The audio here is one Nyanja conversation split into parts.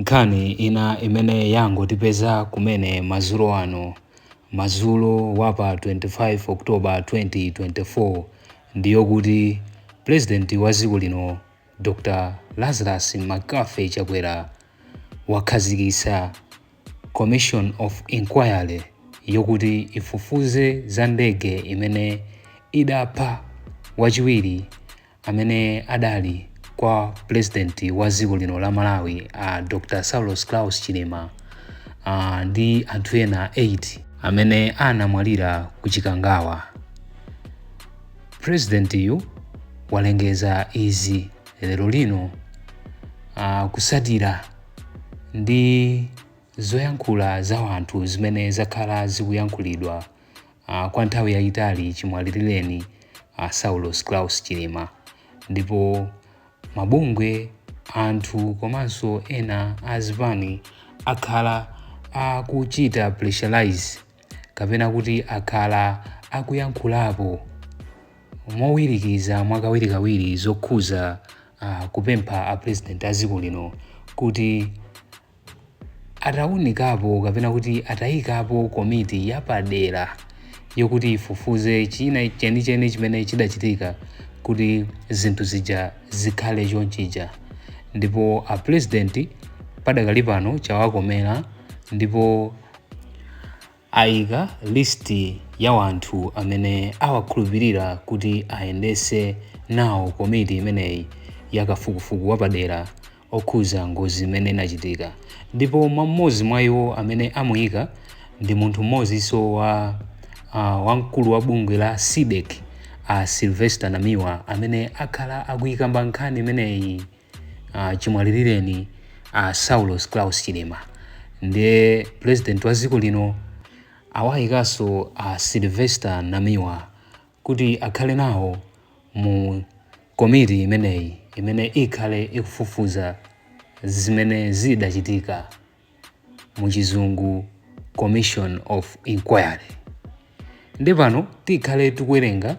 Nkhani ina imene yangotipeza kumene madzulo ano, madzulo wa pa 25 October 2024, ndi yokuti Pulezidenti wa dziko lino, Dr Lazarus McCarthy Chakwera, wakhazikitsa Commission of Inquiry yokuti ifufuze za ndege imene idapha wachiwiri amene adali kwa pulezidenti wa dziko lino la Malawi a Dr. Saulos Klaus Chilima a, ndi anthu ena 8 amene anamwalira ku Chikangawa. Pulezidentiyu walengeza izi lero lino a, kusatira ndi zoyankhula za wanthu zimene zakhala zikuyankhulidwa uh, kwa nthawi yayitali chimwalilireni uh, Saulos Klaus Chilima ndipo mabungwe anthu komanso ena azipani akhala akuchita pressurize kapena kuti akhala akuyankhulapo mowirikiza mwakawirikawiri zokhuza uh, kupempha a president a dziko lino kuti ataunikapo kapena kuti atayikapo komiti yapadera yokuti ifufuze china chenicheni chimene chidachitika kuti zinthu zija zikhale chonchija ndipo a president padakali pano chawakomera ndipo Aika list ya wanthu amene awakhulupilira kuti ayendese nawo komiti imeneyi ya kafukufuku wapadera okhuza ngozi imene inachitika ndipo mwa m'modzi mwa iwo amene amuika ndi munthu m'modziso wa a wamkulu wa bungwe la CDEDI a Sylvester Namiwa amene akhala akuikamba nkhani imeneyi uh, chimwalilireni a saulos claus chilima ndiye president wa dziko lino awayikanso a sylvester namiwa kuti akhale nawo mu komiti imeneyi imene ikhale ikufufuza zimene zidachitika mu chizungu commission of inquiry ndi pano tikhale tikuwerenga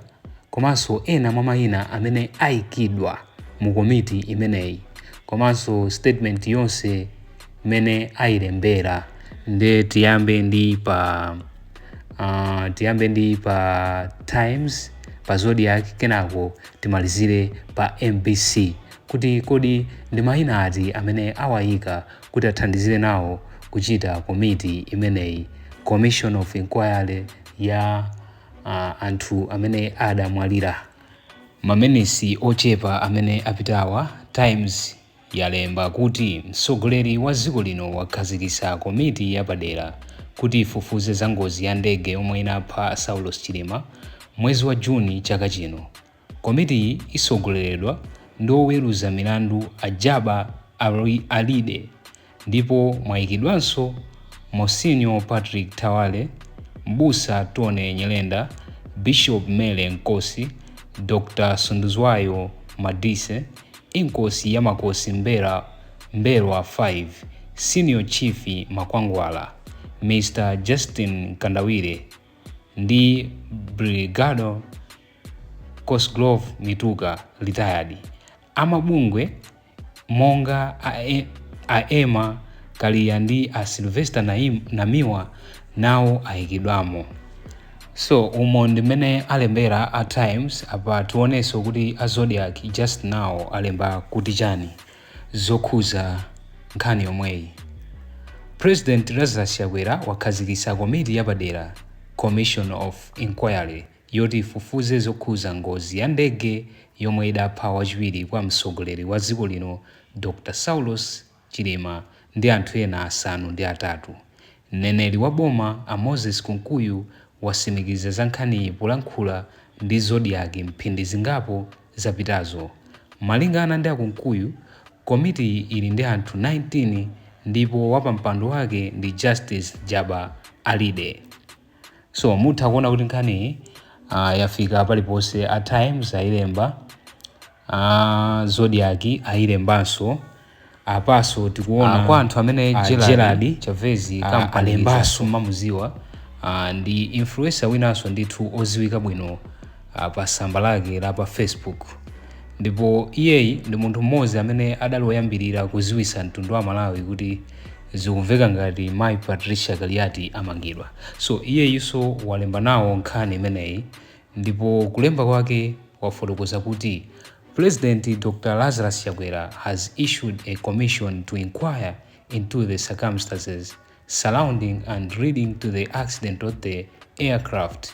komanso ena mwa mayina amene ayikidwa mu komiti imeneyi komanso statement yonse imene ayilembera nde tiyambe ndi pa uh, tiyambe ndi pa times pa zodiak kenako timalizire pa mbc kuti kodi ndi mayina ati amene awayika kuti athandizire nawo kuchita komiti imeneyi commission of inquiry ya uh, anthu amene adamwalira maminitsi ochepa amene apitawa times yalemba kuti mtsogoleri wa dziko lino wakhazikitsa komiti yapadera kuti ifufuze za ngozi ya ndege yomwe inapha saulos chilima mwezi wa juni chaka chino Komitiyi itsogoleredwa ndi oweruza milandu a Jabbar Alide ndipo mwaikidwanso Monsignor Patrick Thawale, Mbusa Tony Nyirenda, Bishop Mary Nkosi, Dr Sunduzwayo Madise, Inkosi ya Makosi M'mbelwa 5, Senior Chief Makwangwala, Mr Justin Mkandawire ndi Brigadier. Cosgrove Mituka, retired, a mabungwe monga a, e, a Emma Kaliya ndi a Sylvester Naim, Namiwa nawo ayikidwamo. So umo ndi mmene alembera a Times apa tionenso kuti a Zodiak just now alemba kuti chani zokhuza nkhani yomweyi. President Lazarus Chakwera wakhazikitsa komiti yapadera, Commission of Inquiry, yoti ifufuze zokhuza ngozi ya ndege yomwe idapha wachiwiri kwa mtsogoleri wa dziko lino Dr Saulos Chilima ndi anthu ena asanu ndi atatu. Mneneri wa boma a Moses Kunkuyu wasimikiza za nkhaniyi polankhula ndi Zodiak mphindi zingapo zapitazo. Malingana ndi a Kunkuyu, komitiyi ili ndi anthu 19 ndipo wapampando wake ndi Justice Jabbar Alide. So mutha kuona kuti nkhaniyi uh, yafika paliponse. A Times ayilemba, a Zodiak ayilembanso apanso tikuona uh, kwa anthu amene uh, Gerald Chavez uh, alembanso mumamuziwa uh, ndi influencer winanso ndithu oziwika bwino uh, pa samba lake la pa Facebook ndipo iyeyi ndi munthu mmodzi amene adali woyambirira kuziwisa mtundu wa Malawi kuti Zikumveka ngati mayi Patricia Kaliati amangidwa. So iyeyinso walemba nawo nkhani imeneyi ndipo kulemba kwake wafotokoza kuti President Dr Lazarus Chakwera has issued a commission to inquire into the circumstances surrounding and leading to the accident of the aircraft.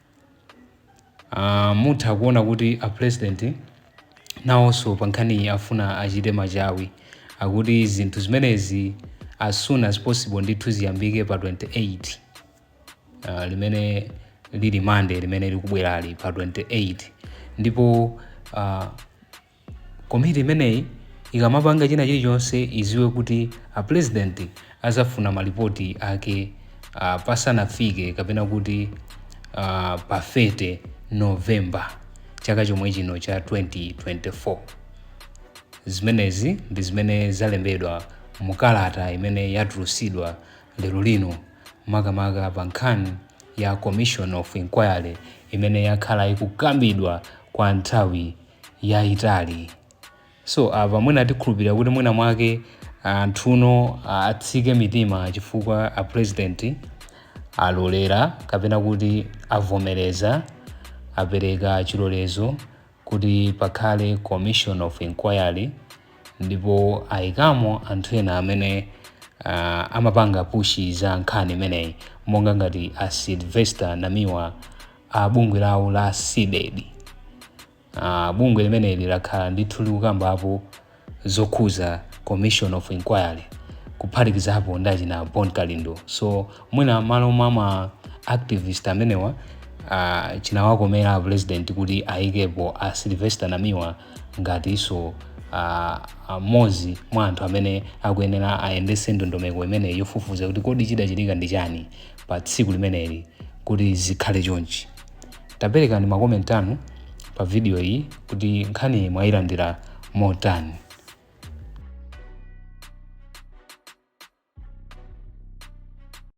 Uh, mutha kuona kuti a president nawonso pa nkhaniyi afuna achite machawi akuti zinthu zimenezi as soon as possible ndithu ziyambike pa 28 uh, limene lili Monday limene likubwerali pa 28 ndipo uh, Komiti imeneyi ikamapanga china chilichonse idziwe kuti a president azafuna ma report ake pasanafike kapena kuti pa 30 November chaka chomwe chino cha 2024. Zimenezi ndi zimene zalembedwa mu kalata imene yatulusidwa lero lino makamaka pa nkhani ya commission of inquiry imene yakhala ikukambidwa kwa nthawi yayitali so apa mwina tikhulupirira kuti mwina mwake anthu no atsike mitima chifukwa a president alolera kapena kuti avomereza apereka chilolezo kuti pakhale commission of inquiry ndipo ayikamo anthu ena amene uh, amapanga pushi za nkhani imeneyi monga ngati a sylvester namiwa a bungwe lawo la cdedi uh, bungwe limeneli lakhala ndithu likukambapo zokhuza commission of inquiry kuphatikizapo ndi achina bon kalindo so mwina m'malo mwa ma activist amenewa uh, chinawakomera a president kuti ayikepo a sylvester namiwa ngatinso uh, mmodzi mwa anthu amene akuyenera ayendetse ndondomeko imeneyi yofufuza kuti kodi chidachitika ndi chani pa tsiku limeneli kuti zikhale chonchi taperekani makomenti anu pa video iyi kuti nkhani mwayilandira motani